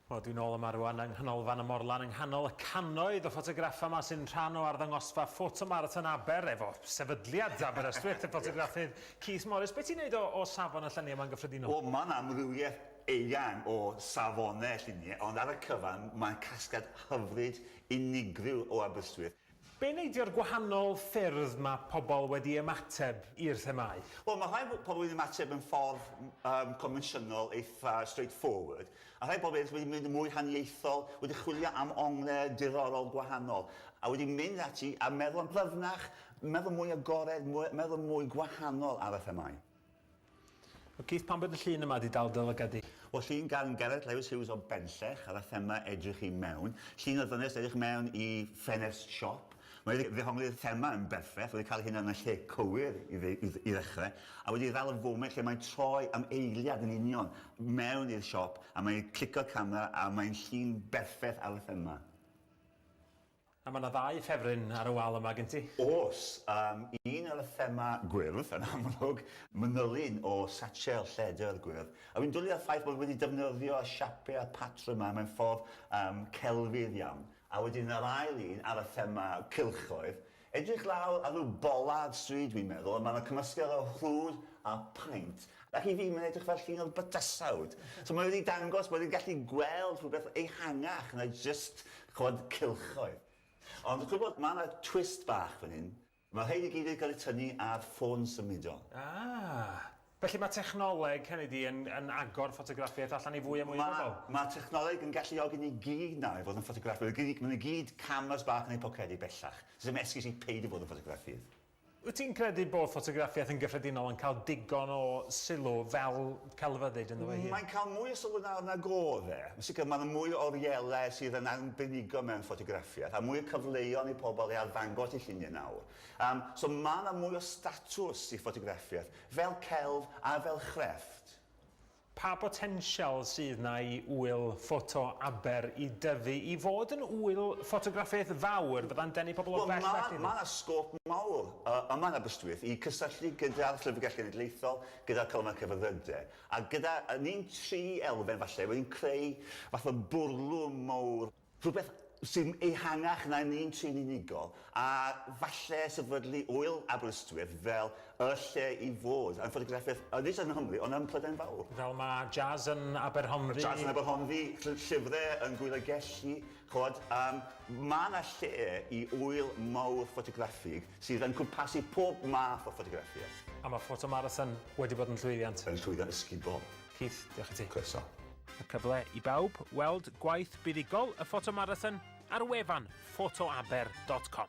Wel, dwi'n ôl yma rwan yng Nghanolfan y Morlan yng nghanol y cannoedd o ffotograffau yma sy'n rhan o arddangosfa Photo Marathon Aber efo sefydliad Aberystwyth, y ffotograffydd Keith Morris. Be ti'n neud o, o safon y lluniau yma'n gyffredinol? Wel, mae'n amrywiaeth eang o safonau lluniau, ond ar y cyfan mae'n casgliad hyfryd, unigryw o Aberystwyth. Be neidio'r gwahanol ffyrdd mae pobl wedi ymateb i'r themâu? Wel, mae rhai pobl wedi ymateb yn ffordd um, convensiynol, eitha straightforward, a rhai pobl wedi mynd yn mwy haniaethol, wedi chwilio am ongle diddorol gwahanol, a wedi mynd ati a meddwl yn blyfnach, meddwl mwy agored, meddwl mwy gwahanol ar y themâu. O Keith pam bod y llun yma di dal dy lygad di? O llun gan Gareth Lewis Hughes o Benllech ar y thema edrych i mewn. Llun o ddynes edrych mewn i ffenest siop. Mae wedi ddehongli'r thema yn berffaith, wedi cael hyn yn y lle cywir i ddechrau, a wedi dal y foment lle mae'n troi am eiliad yn union mewn i'r siop a mae'n clico'r camera a mae'n llun berffaith ar y thema. A mae 'na ddau ffefryn ar y wal yma gen ti. Oes, yym, un ar y thema gwyrdd, yn amlwg, manylyn o satchel lledr gwyrdd, a dwi'n dwlu ar y ffaith bod wedi defnyddio y siapie a'r patrwm yma mewn ffordd yym celfydd iawn. A wedyn yr ail un ar y thema cylchoedd, edrych lawr ar ryw bolard stryd dwi'n meddwl, a mae 'na cymysgedd o rhwd a paent, Ac i fi, mae'n edrych fel llun o bydysawd. So mae wedi dangos bod e'n gallu gweld rhywbeth ehangach na jyst, ch'mod, cylchoedd. Ond chi'n gwybod, mae yna twist bach fan hyn. Mae'r rhain i gyd wedi cael eu tynnu ar ffôn symudol. Ah! Felly mae technoleg, hynny ydi, yn yn agor ffotograffiaeth allan i fwy a mwy o bobl? Mae mae technoleg yn galluogi ni gyd nawr i fod yn ffotograffwyr. Gei di, maen nhw gyd cameras bach yn eu pocedi bellach. Does dim esgus i peidio bod yn ffotograffydd. Wyt ti'n credu bod ffotograffiaeth yn gyffredinol yn cael digon o sylw fel celfyddyd ynddo ei hun? Mae'n cael mwy o sylw nawr nag oedd e. Yn sicr, mae 'na mwy o orielau sydd yn arbenigol mewn ffotograffiaeth, a mwy o cyfleon i pobl i arddangos eu lluniau nawr. Yym, so mae 'na mwy o statws i ffotograffiaeth, fel celf a fel chrefft. Pa botensial sydd 'na i Ŵyl Ffoto Aber i dyfu i fod yn ŵyl ffotograffeg fawr fydda'n denu pobl o bell a llwyddo? Mae 'na sgôp mawr yma yn Aberystwyth i gysylltu gyda'r Llyfrgell Genedlaethol, gyda'r Colomau Cyfarwyddydau, a gyda ni'n tri elfen falle, wedyn creu fath o bwrlwm mawr. Rhywbeth sy'n ehangach na'r un trin unigol, a falle sefydlu Ŵyl Aberystwyth fel y lle i fod am ffotograffiaeth nid jyst yng Nghymru ond ym Mhrydain Fawr. Fel mae Jazz yn Aberhonddu. Jazz yn Aberhonddu, llyfrau yn Gŵyl y Gelli, ch'mod, yym, mae 'na lle i ŵyl mawr ffotograffig sydd yn cwmpasu pob math o ffotograffiaeth. A mae Photo Marathon wedi bod yn llwyddiant. Yn llwyddiant ysgubol. Keith, diolch i ti. Croeso. A cyfle i bawb weld gwaith buddugol y ffotomarathon ar wefan photoaber dot com.